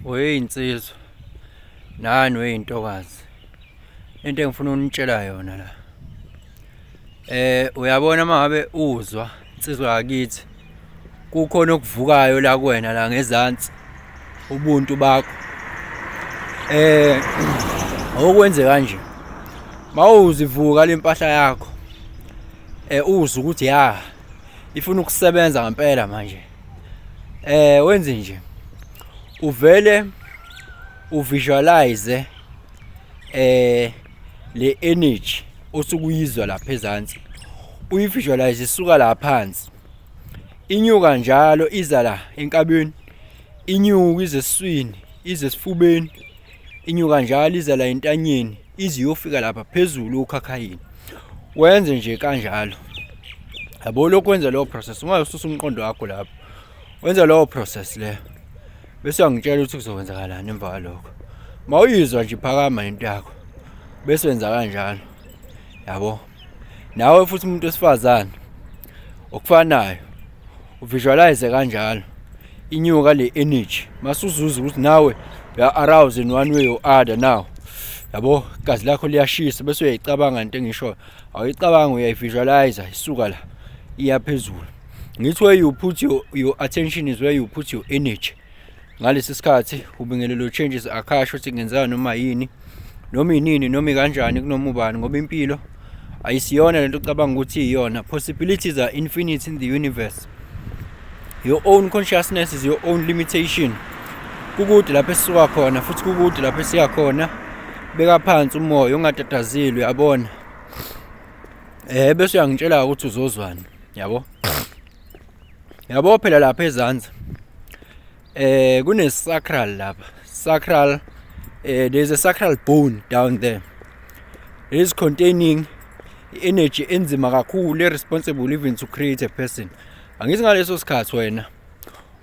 weyinsizwa nani weyintokazi into engifuna unitshela yona la eh uyabona mangabe uzwa insizwa yakithi kukhona okuvukayo la kuwena la ngezansi ubuntu bakho eh okwenze kanje mawuzivuka lempahla yakho eh uzwa ukuthi ya ifuna ukusebenza ngempela manje eh wenze nje uvele uvisualize eh le energy osukuyizwa lapha ezantsi uyivisualize isuka la phansi inyuka njalo iza la enkabeni inyuka ize eswini ize esifubeni inyuka njalo iza la entanyeni ize iyofika lapha phezulu ukhakhayini wenze nje kanjalo yabo lokhu wenza leyo process ungayisusa umqondo wakho lapho wenza leyo process leyo bese uyangitshela ukuthi kuzokwenzakalani emva kwalokho ma uyizwa nje phakama into yakho bese wenza kanjalo yabo nawe futhi umuntu wesifazane okufanayo uvisualize kanjalo inyuka le energy masuzuza ukuthi nawe ya arouse in one way or other now yabo gazi lakho liyashisa bese uyayicabanga into engisho awuyicabanga uyayivisualize isuka la iya phezulu ngithi where you put your, your attention is where you put your energy ngalesi sikhathi ubingelelo changes akhasho ukuthi kungenzeka noma yini noma inini noma ikanjani kunoma ubani ngoba impilo ayisiyona lento ocabanga ukuthi iyona possibilities are infinite in the universe your own consciousness is your own limitation kukude lapho esisuka khona futhi kukude lapho esiya khona beka phansi umoya ungatatazilwe yabona eh bese uyangitshela ukuthi uzozwani yabo yabo phela lapha ezansi eh kune sacral lapha sacral eh there's a sacral bone down there it is containing energy enzima kakhulu responsible even to create a person angithi ngaleso sikhathi wena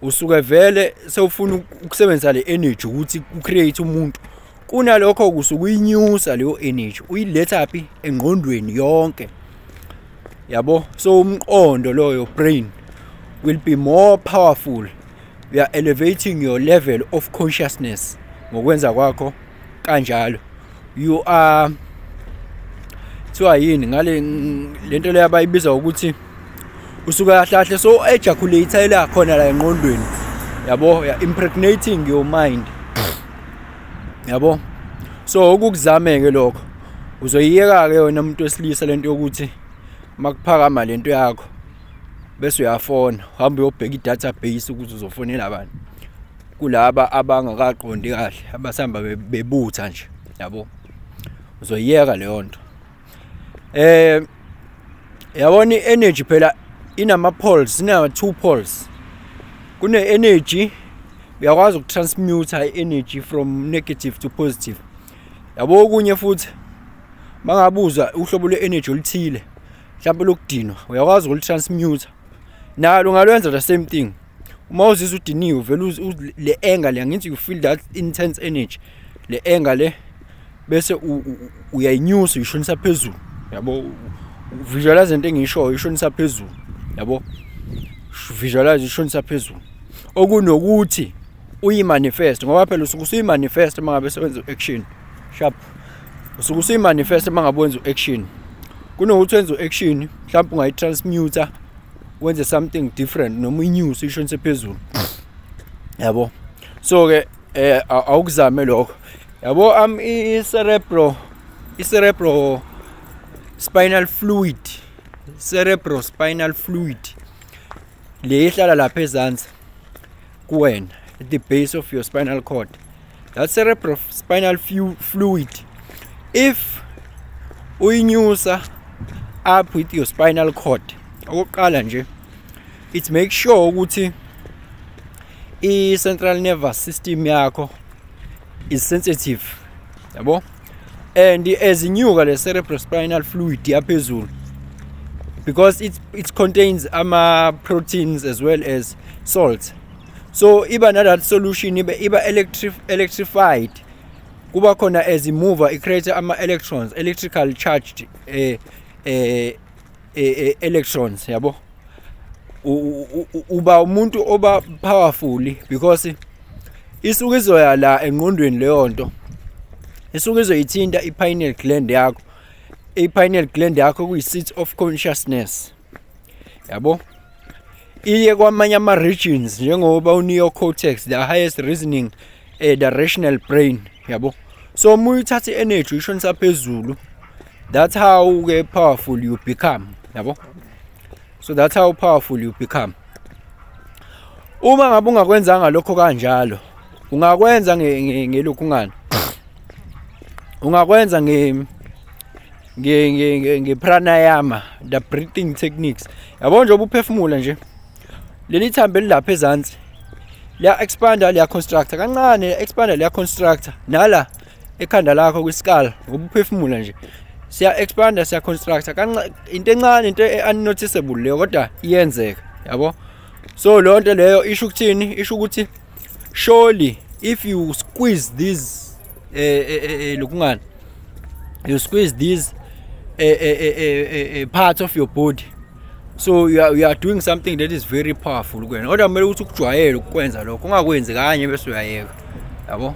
usuke vele sewufuna ukusebenzisa le energy ukuthi u create umuntu kunalokho kusuke uyinyusa leyo energy uyiletha phi engqondweni yonke yabo so umqondo lo your brain will be more powerful you are elevating your level of consciousness ngokwenza kwakho kanjalo you are kuthiwa yini ngale lento leyo abayibiza ukuthi usuke ahlahle so ejaculate ila khona la enqondweni yabo ya impregnating your mind yabo so ukuzameke lokho uzoyiyeka-ke wena muntu wesilisa lento yokuthi makuphakama lento yakho bese uyafona hamba uyobheka i-database ukuthi uzofonela abantu kulaba abangakaqondi kahle abasihamba bebutha nje yabo uzoyiyeka leyo nto eh yabona i-energy phela inama-poles inama-two poles kune-energy uyakwazi ukutransmuta i-energy from negative to positive yabo okunye futhi mangabuza uhlobo lwe-energy oluthile mhlawumpe lokudinwa uyakwazi ukulutransmuta nalo ungalwenza the same thing uma uzizwa udiniwe vele le anger le angithi you feel that intense energy le anger le bese uyayinyusa uyishonisa phezulu yabo visualize into engishoyo ishonisa phezulu yabo visualize ishonisa phezulu okunokuthi uyimanifest ngoba phela usuke usuyimanifest uma ngabe sewenza u-action sharp usuke usuyimanifest uma ngabe wenza u-action kunokuthi wenza u-action mhlawumbe ungayi-transmuter wenze something different noma i-news ishonise phezulu yabo so-ke eh awukuzame lokho yabo am i-cerebro i-cerebro spinal fluid cerebro spinal fluid le ihlala lapha ezansi kuwena at the base of your spinal cord that cerebral spinal fluid if uyinyusa up with your spinal cord okokuqala nje it make sure ukuthi i-central nervous system yakho is sensitive yabo and ezinyuka le cerebrospinal fluid yaphezulu because it, it contains ama proteins as well as salt so iba na that solution iba, iba electri electrified kuba khona as mover it creates ama electrons electrical charged eh, eh, eh, eh, electrons yabo uba umuntu oba powerful because isuke izoya la engqondweni leyo nto isuke izoyithinta i-pineal gland yakho i-pineal gland yakho kuyi-seat of consciousness yabo iye kwamanye ama-regions njengoba u-neocortex the highest reasoning eh the rational brain yabo so uma uyithatha i-energy uyishonisa phezulu that's how ke powerful you become yabo so that's how powerful you become uma ngabe ungakwenzanga lokho kanjalo ungakwenza ngelokhungana ungakwenza nge nge nge pranayama the breathing techniques yabo nje ubuphefumula nje leli thambo elilapha ezansi liya expanda liya constructor kancane liya expanda liya constructor nala ekhanda lakho kwisikala ngokuphefumula nje siya expanda siya constructor kancane into encane into unnoticeable leyo kodwa iyenzeka yabo so leyo nto leyo isho ukuthini isho ukuthi surely if you squeeze these eh eh, eh, eh lokungani you squeeze these eh eh eh, eh part of your body so you are, you are doing something that is very powerful kuwena kodwa kumele ukuthi ukujwayele ukukwenza lokho ungakwenzi kanye bese uyayeka yabo